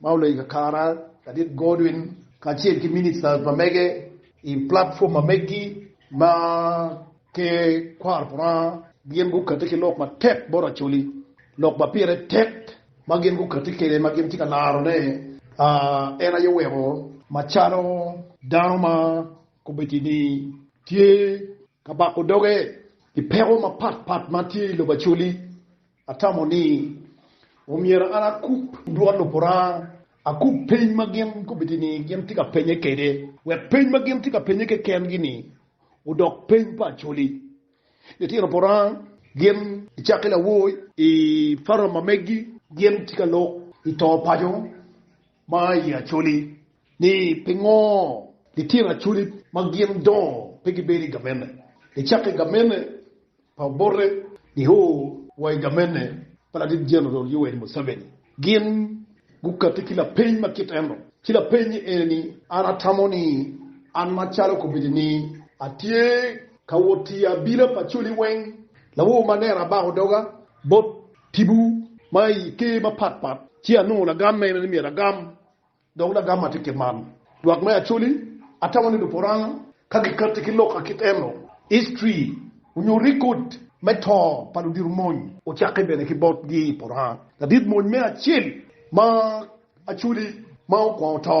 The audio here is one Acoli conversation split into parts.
ma olony i kakare ladit Godwin kacel ki minista ma mege i platform ma megi ma Ker kwaro Lubanga, gin gukati ki lok matek bot Acholi, lok ma pire tek ma gin gukati kwede ma gin tye ka laro ne en aye oweko macalo dano ma kommiti ni tye ka bako doge pi peko mapat pat ma tye i lobo Acholi Atamo ni omyero an akub dwon Lupuranga, akub peny ma gin gubiti ni gin tye ka penye kwede, wek peny ma gin tye ka penye kekengi-ni odok peny pa Acholi. Litino Puranga gin i cakke lawoy i Farama megi gin tye ka lok i to paco Ma i Acholi, ni pingo litino Acholi ma gin dongo pe gibedo i gamente? Nicako i gamente pa Obote nio wa i gamente pa Ladit Jeneral Yoweri Museveni, gin gukati ki lapeny ma kit eno, ci lapeny ene ni, An atamo ni an macalo kobedo ni atye ka wot tiyo abila pa Acholi weng, lawo ma nera abako doga bot Tipo ma i ker mapat pat, ci anongo lagam mene ni myero agam, dok lagam ma tye kit man, Lwak me Acholi, Atamo ni Luporanga ka gikatti ki lok akit eno, history onyo record me to pa ludiro mony ocakke bene ki bot gi i Poranga, ladit mony me acel ma Acholi ma okwongo to.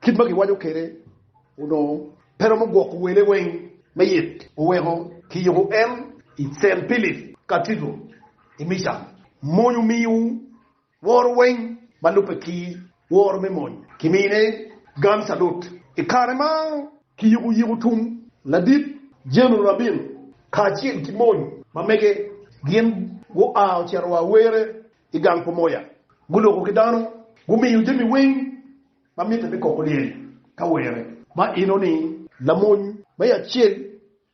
Kit ma giwaco kwede onongo pe romo gwoko wele weng me yit, oweko kiyuko en i Cell Philip Cathedral i Michigan. Mony omiyo woro weng ma lubbe ki woro me mony kimine gang calut. I kare ma kiyuko yiko tum ladit General Rabin kacel ki mony ma mege, gin gua ocito wa were i gang Pomoya, guloko ki dano, gumiyo jami weng Ma mitte me koko lyel ka were. Ma enoni. Lamony me acel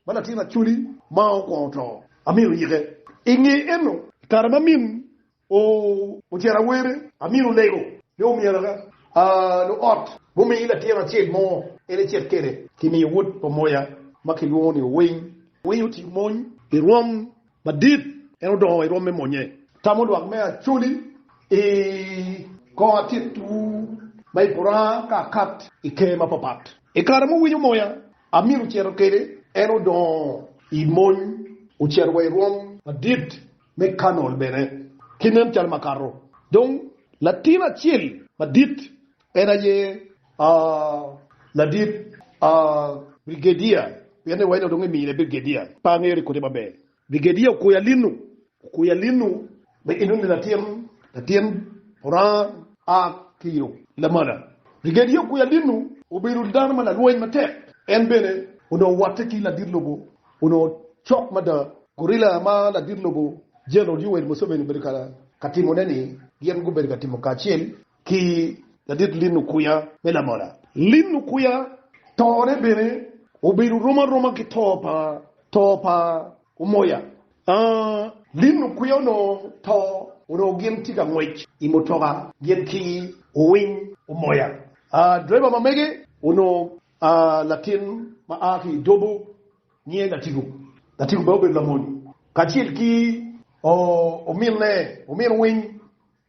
ma latin Acholi ma okwongo oto, amyero oyike. I nge eno, i kare ma min ocito awere, amyero olego ni omyero aka luot mumiyi latin acel mo en ecit kwede. Kimiyo wod pa moya ma kilwongo ni Owiny. Owiny otiyo mony i rwom Madit, en odongo wa i rwom me monye. Tamo lwak me Acholi i kor atit-wu ma i Puranga ka akat i ker mapapat. I kare muwinyo moya amito cito kede, en odongo i mony, ocito wa i rwom madit me Kanol bene. Ki nen calo makato, dong latin acel madit En aye ladit brigedia, pien ni wayne dong emiyo ne brigedia pe angere kodi maber. Brigedia okoyo alinu, okoyo alinu me inu ni latin latin Oranga a ki yo Lamala. Brigedia okoyo alinu obedo dano ma lalweny matek, en bene onongo wotte ki ladit lobo onongo cok mada, gorilla ma ladit lobo General Yoweri Museveni obedo ka timone ni gin gubedo ka timo kacel ki ladit lino kwiya me lamola. Lino kwiya tone bene obedo rom aroma ki to pa to pa Omoya. Aa, lino kwiya onongo to onongo gin tye ka ngwec i mutoka gin ki Owiny Omoya. Aa, driver ma mege onongo aa latin ma aa ki i Dobo nyiye Latigo. Latigo bene obedo lamony kacel ki oo ominne, omin Owiny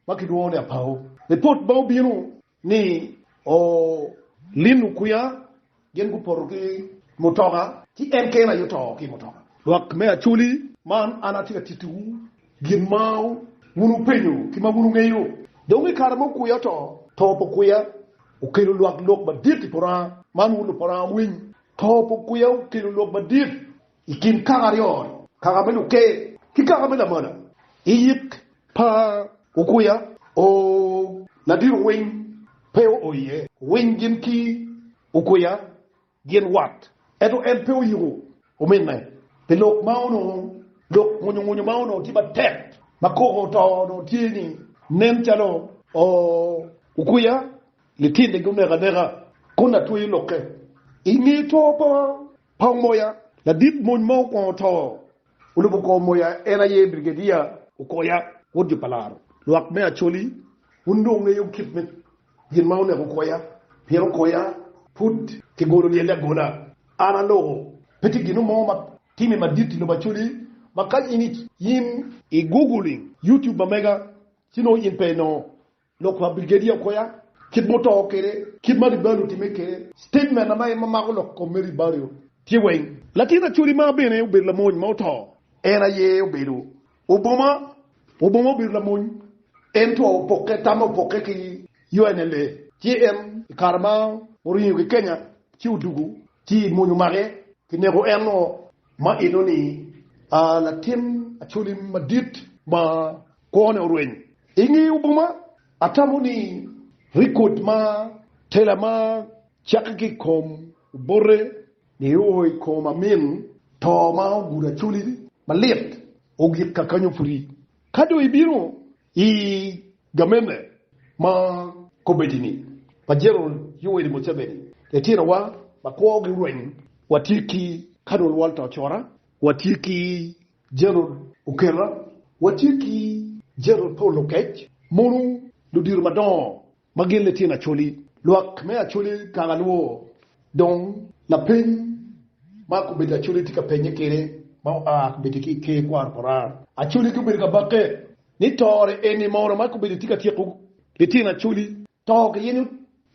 ma gilwongo ni Apau. Lipot ma obino ni Olin Okuya gin gupoto ki mutoka ci en kene aye oto ki i mutoka. Lwak me Acholi, man an atye ka tittiwu gin ma wun wupenyo ki ma wun wungeyo. Dong i kare ma Okuya oto, to pa Okuya okelo lwak lok madit i poto anga? Man wun lupoto anga wuwiny, to pa Okuya okelo lok madit I kin kaka aryo-ni, kaka me luker ki kaka me lamola, i yik pa Okuya, o Ladiro Winy pe oo iye. Winy gin ki Okuya gin wat, ento en pe oyiko ominne pi lok ma onongo lok ngunyungunyu ma onongo tye matek ma koko oto onongo tye ni nen calo o Okuya litine gi oneko aneka kun atweyo lokke. I nge to pa Kong moya, ladit mony ma okwongo to. Olubo kong moya, en aye Brigedia Okoya, wod jo pa laro lwak me Acholi. Wun dong wungeyo kit me gin ma oneko Okoya, pien Okoya pud kigolo lyelle agola. An aloko, pe tye gin mo ma timme madit i lobo Acholi ma ka in i Google, YouTube ma mega, ci nongo in pe inongo. Lok pa Brigedia Okoya, Kit ma oto kwede, Kit ma Ribario otimme kwede, Sitejmen ma en ma mako lok kom me Ribario tye weng. Latin Acholi ma bene obedo lamony ma oto, en aye obedo Oboma. Oboma obedo lamony, ento opokke, tamme opokke ki UNLA. Ci en i kare ma oringo ki Kenya ci odwogo, ci mony omake ki neko en o ma enoni latin Acholi madit ma kwone orweny. I nge Ubuma, atamo ni rekod ma tela ma cakki ki i kom obote nio i kom amin to ma ogudo acholi malit ogik kakanyo pudi. Ka dong ibino i gamente ma komitti-ni pa Jeneral Yoweri Museveni, litinowa ma kwogi orweny watye ki Kanol Walter Ocora, watye ki Gerald Okela, Watye ki Gerald Paul Oketch, mono ludito madongo ma gin litino Acholi. Lwak me Acholi kang alwo dong lapeny ma komiti Acholi tye ka penye kwede ma oa komiti ki i Ker Kwaro Moraa. Acholi gubedo ka bakke ni tore eni mono ma komiti tye ka tyeko litino Acholi To kiyenyo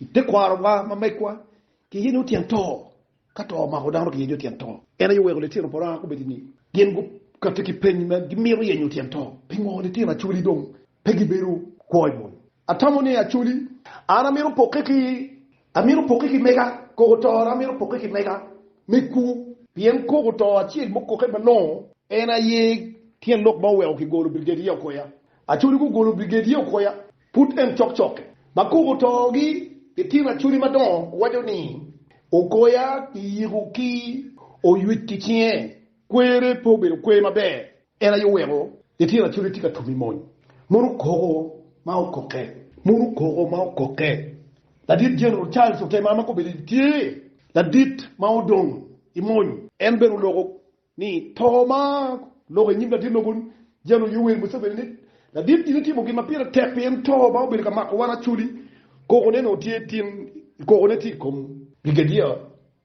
i tekwarowa ma megwa, kiyenyo tyen to. Ka to omako dano, kiyenyo tyen to. En aye oweko litino Abraham gubedo ni gin gukati ki peny ma gimito yenyo tyen to. Pingo litino Acholi dong pe gibedo kwo i moni? Atamo ni Acholi, an amito pokke ki, amito pokke ki mega, koko tora amito pokke ki mega me kur. Pien koko to acel mukoke malongo, en aye tyen lok ma oweko kigolo Brigadier Okoya. Acholi gugolo Brigadier Okoya. Pud en cokcokke. Ma koko togi i tino acwali madongo waco ni, Ogoya i yiko ki oywic ki cinge, kwere pe obedo kwer maber, en aye oweko litino acwali tye ka tum i mony. Mono koko ma okokke! Mono koko ma okokke! Ladit General Charles otemo ama kobedo tye ladit ma odong i mony. En bene oloko ni to ma loko i nyim ladit lobo ni General Yoweri Museveni ni ladit gin itimo gin ma pire tek pien to ma obedo ka mako wan Acholi koko ne nongo tye tin koko ne tye i kom Brigadier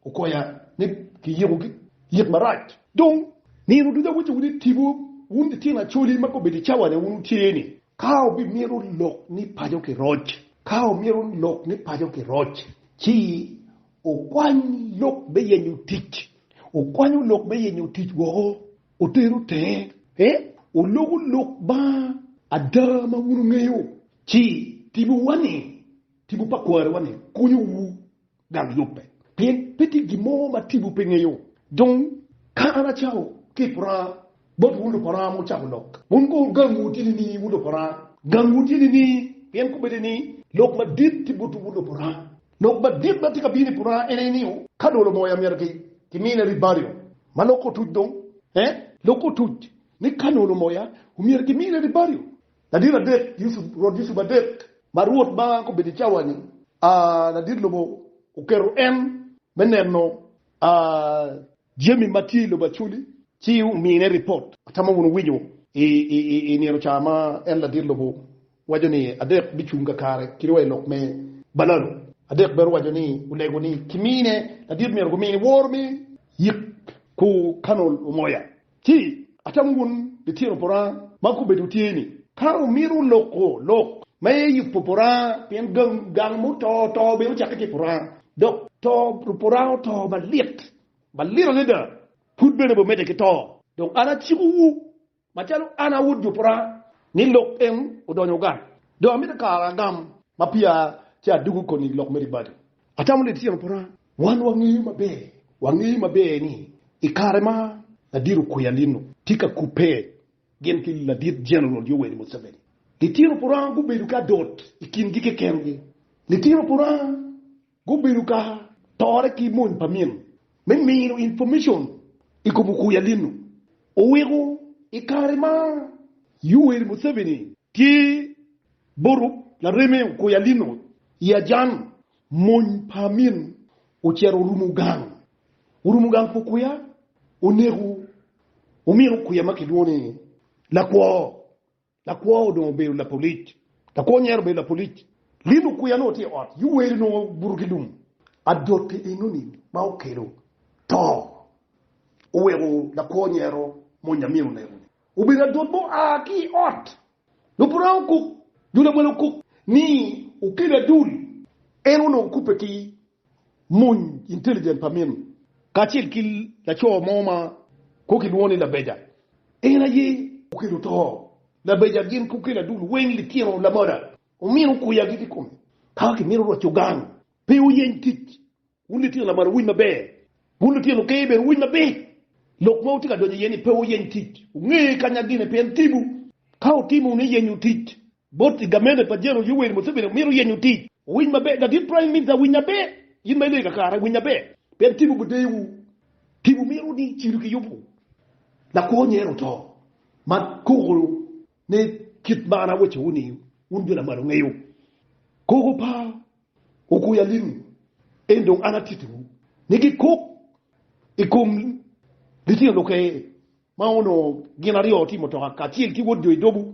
Okoya ni ki yiko ki yik marac dong nino ducu awaco wunu itibu wun litino Acholi ma ka obedo i cawa ne wun wutye ni ka obi mito lok ni paco ki roc ka omito lok ni paco ki roc ci Okwany lok me yenyo tic. Okwanyo lok me yenyo tic woko, otero tenge, olubo lok ma ada ma wun wungeyo, ci timowa ni, tipo pa kwariwa ni, konyowu gang yubbe. Pien pe tye gin mo ma tipo pe ngeyo. Dong, ka an acako ki i pwora bot wun lupwora ma wucako lok, wun kono gang wu tye nining, wun lupwora? Gangwu tye nining? Pien kombeddi ni lok madit tye botwu wun lupwora. Lok madit ma tye ka bino i pwonana en aye ni, ka dolo moya myero kimine ribario ma loko otuc dong. Ee, loko otuc ni ka nolo moya omyero kimine ribario. Ladit adek, Rwot Yusup adek, ma Rwot ma kobedo i cawa-ni, aa, ladit lobo oketo en me neno, aa, Jami ma tye i lobo Acholi ci omine ripot. Atamo wunu winyo i nino ca ma en ladit lobo waco ni adek bicung kakare kit wa i lok me balalo. Adek bene owaco ni olego ni kimine ladit myero gumini woro me yik ku kanol omoya. Ci atamo wun litino poranga ma kubedo wutye ni ka wumito loko lok ma aye yubo poranga pien gang ma oto oto bene ocakke ki poranga Dok to Ruporango to malit, malit adada, pud bene bumedde ki to. Dong an acikowu, macalo an a Wod Juporanga, ni lok en odonyo gang. Dong amito kara agam ma pia ci adwogo koni lok meri badi. Atamo ni litino Poranga, wan wangeyo maber, wangeyo maber ni i kare ma Ladiro Kwer Alino tye ka kubbe Gin ki Ladit Jeneral Yoweri Museveni, Litino Puranga gubedo ka dot i kingi kekengi. Litino Puranga gubedo ka tore ki mony pa min me mino inpomecon i kom okui alinu. Oweko i kare ma Yoweri Museveni tye bot lareme okui alinu i ajan, mony pa min ocito orumo gang orumo gang pu kwiya, oneko, omino kwiya ma kilwongo ni lakwo. Lakwo odong obedo lapolic, lakwo nyero obedo lapolic. Lino kwiya nongo tye i ot, Yuweri nongo buto ki lum. Adote enoni ma okelo to oweko lakwo nyero monyo amin oneko-ni. Obedo adot ma oa ki i ot. Lupuranga okok, jo lawala okok ni okelo adul. En onongo okubbe ki Muny intelligent pa minu kacel ki laco mo ma kong kilwongo ni Labeja. En aye okelo to Labeja gin ki okel adul weng litino lamoda omino kuya giti kome ka kimito roco gang pe wuyeny kic wun litino lamoda wuwiny maber wun litino ker bene wuwiny maber lok ma wutye ka donyo iye ni pe wuyeny kic wunge kanya gine pien tibu ka wutimo wunu iyenyo tic Bot i gamente pa General Yoweri Museveni omito yenyo tic. Owiny maber ladit prime minister winy maber in ma ileyo kakare winy maber pien tibu gudewu tibu mito ni cidu ki yubu lakwo nyero oto ma koko ne kit ma an awaco wu ni wun jo lamalo ngeyo koko pa okwo yalinu en dong an atiti wu ni gi kok i kom litino luke ma onongo gin aryo otimo toka kacel ki wod jo idobu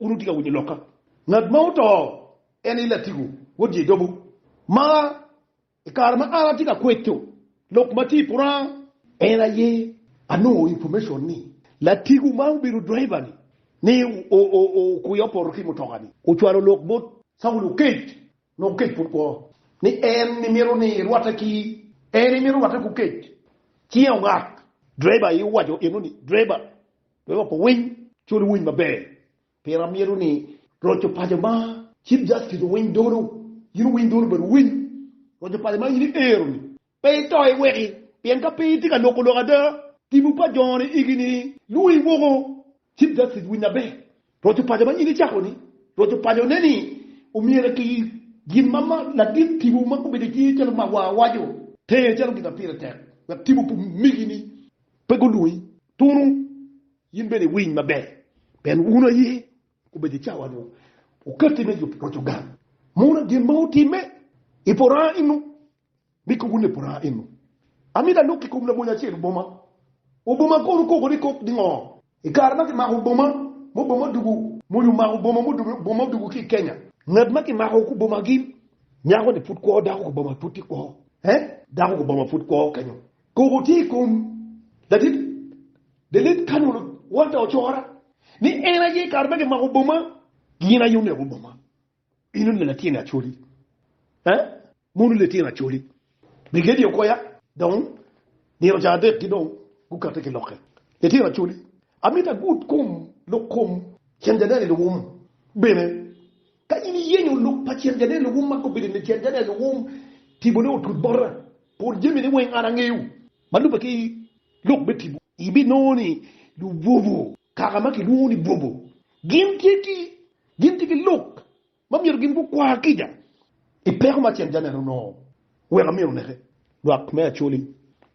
Wun wutye ka winyo lokka. Ngat ma oto en aye Latigo wod Jedobo, ma i kare ma an atye ka kweco lok ma tye i pwonga, en aye anongo information ni Latigo ma obedo driver ni, ni okuyo opoto ki mutoka ni, ocwalo lok bot Caulo kec Nongo kec pud kwo ni en imito ni irwatte ki en imito rwatte ku kec cinge ongak driver aye owaco eno ni driver wek oko winy col iwiny maber pien amito ni roco paco ma chief justice owiny dono in owiny dono bene owiny roco paco ma in iero ni Pe ito iweki, pien ka piny tye ka loko lok ada, tipo pa jone igi ni lwongi woko. Cip Dacid, Winy maber, roc opaco ma nyinge icako ni, roc opaco ne ni omyero ki gin ma ladit tipo ma gubedo icinge calo mawa waco, tenge calo gin ma pire tek wek tipo pe omigi ni pe gulwongi tunu. In bene iwiny maber, pien wunu aye gubedo icawa nyo okatti me yubo roc ogang. Mono gin ma otimme ipora inu Mi koko ne pora eno. Ami da lok i kom lamony acel oboma. Oboma kono koko ni kok ningo? I kare ma kimako oboma mo boma odugu. Mony omako oboma mo boma odugu ki i Kenya. Ngat ma kimako ku boma gin. Nyako ni pud kwo dako ku boma pud tye kwo. Eh? Dako ku boma pud kwo kenyo. Koko tye i kom ladit Delet Kanolo Walter Ocora ni en aye i kare ma kimako oboma gin aye oneko oboma. Bino neno latin Acholi, eh, mono latin Acholi. Brigedi okoya dong nino ca adek ki dong gukate ki lokke. Latin Acholi, amito agud kom lok kom Cen Janel Iluwum bene. Ka in iyenyo lok pa Cen Janel Iluwum ma kobe ni Cen Janel Iluwum tipo ne otut bota, pol jami ne weng an angeyo ma lube ki lok me tipo, ibinongo ni Lubobo, kaka ma kilwongo ni Bobo, gin tye ki. Gin tye ki lok ma myero gin gukwa kica i peko ma acel-ci anene onongo weko amyero oneke. Lwak me Acholi,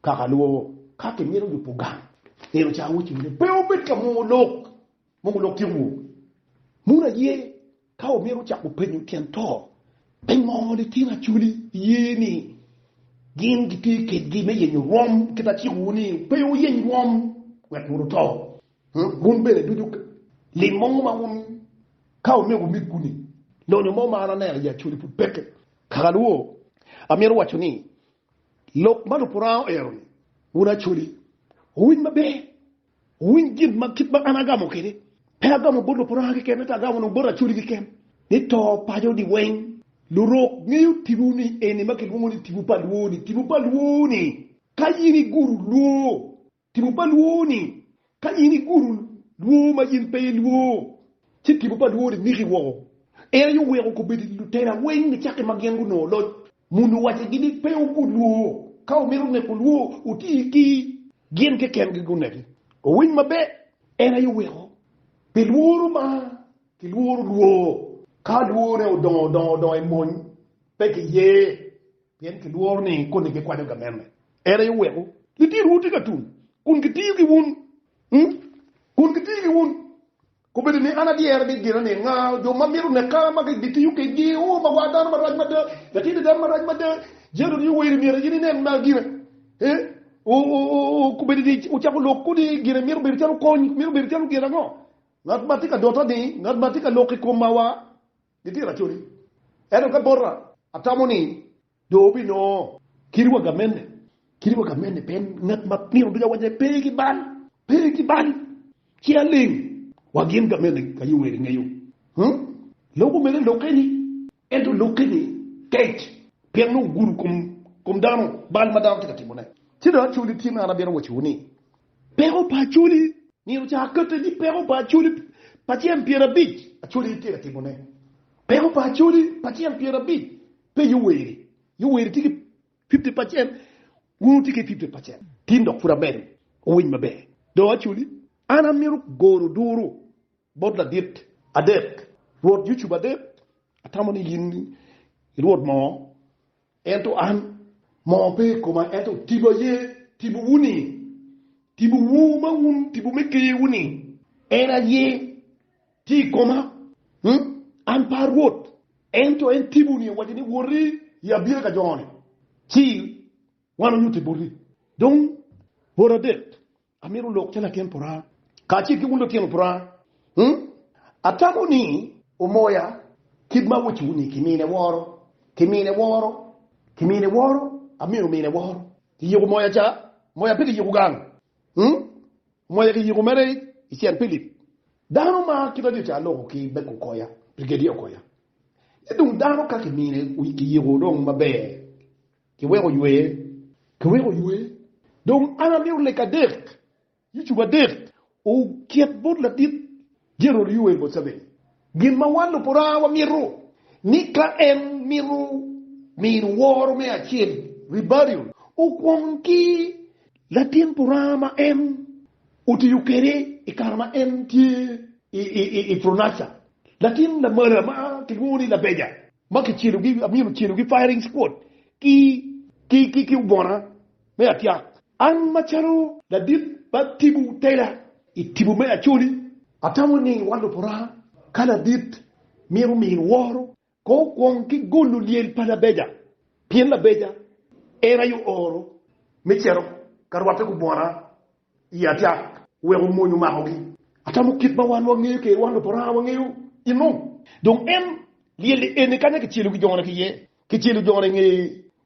Kaka lwoo, ka kimito yubo gang, nino ca awaco ni pe wubed ka mwongo lok, mwongo lok tyeko woo. Munu aye ka wumito cako penyo tyen to, pingo litino Acholi ye ni gin gitye kedgi me yenyo rwom? Kit acikowu ni pe wuyeny rwom wek wun wuto. Wun bene ducu lim mo ma wun ka omego migwu ni, Lonyo mo ma an aneno i Acoli pud peke. Kaka alwor, amito waco ni, lok ma Lupuranga oero ni, Wun Acoli, wuwiny maber, wuwiny gin ma kit ma an agamo kwede. Pe agamo bot Lupuranga keken, ento agamo dong bot Acoli keken, ni to paco odi weng. Lurok ngeyo tipo ni eni ma kilwongo ni tipo pa lwor-ni, tipo pa lwor-ni ka in igudo lwor Tipo pa lwor ni, Ka in igudo lwor ma in pe ilwor, ci tipo pa lwor-ri miki woko. En aye oweko kobedo lutela weng nicaki ma gin gunongo loc. Muni owacigi ni pe wugud lwor. Ka wumito neko lwor, wuti ki gin kekengi guneki. Owiny maber! En aye oweko pi lworo ma kilworo lwor. Ka lworre odongo dongo dong emony, pe kiye. Pien kilworo ni koni gikwanyo gamenne, en aye weko litinowu tye ka tum kun gitiyo ki wun, kun gitiyo ki wun. Kobedo ni an adyere ni gina ni nga jo ma mito neka ma gitiyo kwedgi, oh, ma war dano marac mada, latini dano marac mada, jalo ni owerri myero in inen ma gina, eh, oh, oh, oh, oh, kobedo ni ocako lok kodi gina mito bedo calo kony, mito bedo calo gin ango? Ngat ma tye ka dota ni, ngat ma tye ka lok i koma wa. Gitira acoli, ento ka bota atamo ni dong wubinongo kit wagga mene. Kit wagga mene pien ngat ma nino ducu awaco ni pe ki bal, pe ki bal, ci aling wa gin ka mene ka yo wer ingeyo. Hum, lok omege lokke ni, ento lokke ni tek pien nongo ogudo kom dano, bal ma dano tye ka timone. Ci dong acoli tye ma an abino wacowu ni, Peko pa Acholi myero ca akette ni peko pa Acholi pa cen pyerabic, Acholi itye ka timo ne peko pa Acholi pa cen pyerabic pe Yoweri, Yoweri tye ki fifty pacen wun wutye ki fifty pacen tin dok pud amedo owiny maber do Acholi an amito goro duru bot ladit adek rwot YouTube adek atamo ni in irwot mo. Ento an, moo pe i koma, ento tipo aye tipowu-ni, tipowu ma wun tipo me kewu-ni, en aye tye i koma. An pe arwot, ento en tipo-ni owaco ni, Woti i abira ka jo-ni, ci wan onyutte boti. Dong bot adek Amito lok calo latin pora kacel ki wun lutino pora. Atamo ni wumoya kit ma wucung ni kimine woro, kimine woro, kimine woro, amito mine woro. Iyiko moya ca? Moya pe kiyiko gang. Moya kiyiko mere i Cent Philip. Dano ma kit aryo ca aloko ki Bek Okoya, Brigadier Okoya. Ci dong dano ka kimine kiyiko dong maber. Kiweko oywer. Kiweko oywer. Dong an amito lek adek, YouTube adek, oket bot ladit General Yoweri Museveni. Gin ma wan Luporaa wamito ni ka en mito mino woro me acel, rebellion, okwong ki latin Poraa ma en otiyo kede i kare ma en tye i Fronasha, latin Lamala ma kilwongo ni Labeja. ma kicelogi, amyero ocelogi firing squad ki, ki, ki, ki obona me atyak. An macalo ladit ma tipo tela i tipo me Acholi, atamo ni wan Luporaa ka ladit myero omin woro kong okwong ki golo lyel pa Labeja pien Labeja en aye ooro me cito ka rwatte ki obona i acat wek omony omakogi. Atamo kit ma wan wangeyo kede, wan Luparanga wangeyo enung. Dong en lyelle eni kanya kicelo ki jone ki yer, kicelo jone nge,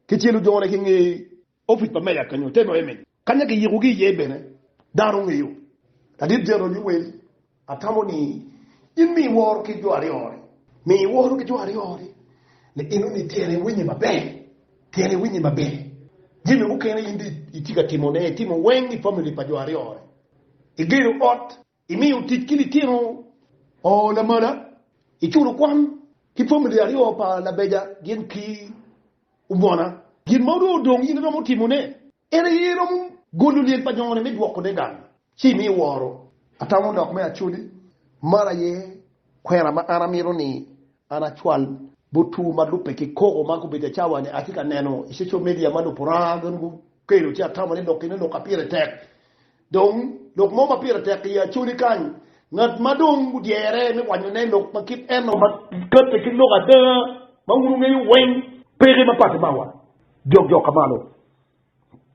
kicelo jone ki nge opic pa meya kenyo, te noye meni kanya kiyikogi iye bene dano ongeyo. Ladit Jeroji Wel. Atamo ni in mi iworo ki jo aryo ori. Mi iworo ki jo aryo ori ni in onongo tyene iwinye maber, tyene iwinye maber. Jami mukene in dong itye ka timone, itimo weng i famili pa jo aryo ori. Igedo ot, imiyo tic ki litino oo lamala, iculo kwan ki famili aryo pa labeja gin ki. Obona, gin ma onongo dong in iromo timone en aye iromo golo lyel pa nyongone me dwokone gang ci imi woro. Atamo lok me acoli, man aye kwena ma an amito ni an acwal bot two ma lubbe ki koko ma gubedo cawa-ni. Atye ka neno i social media ma luporanga gin gukelo ci atamo ni lok kene lok ma pire tek. Dong, lok mo ma pire tek i Acholi kany, ngat ma dong odyere me wanyone lok ma kit eno ma katte ki lok ada ma wun wungeyo weng peke mapattimawa jokjok ka malo.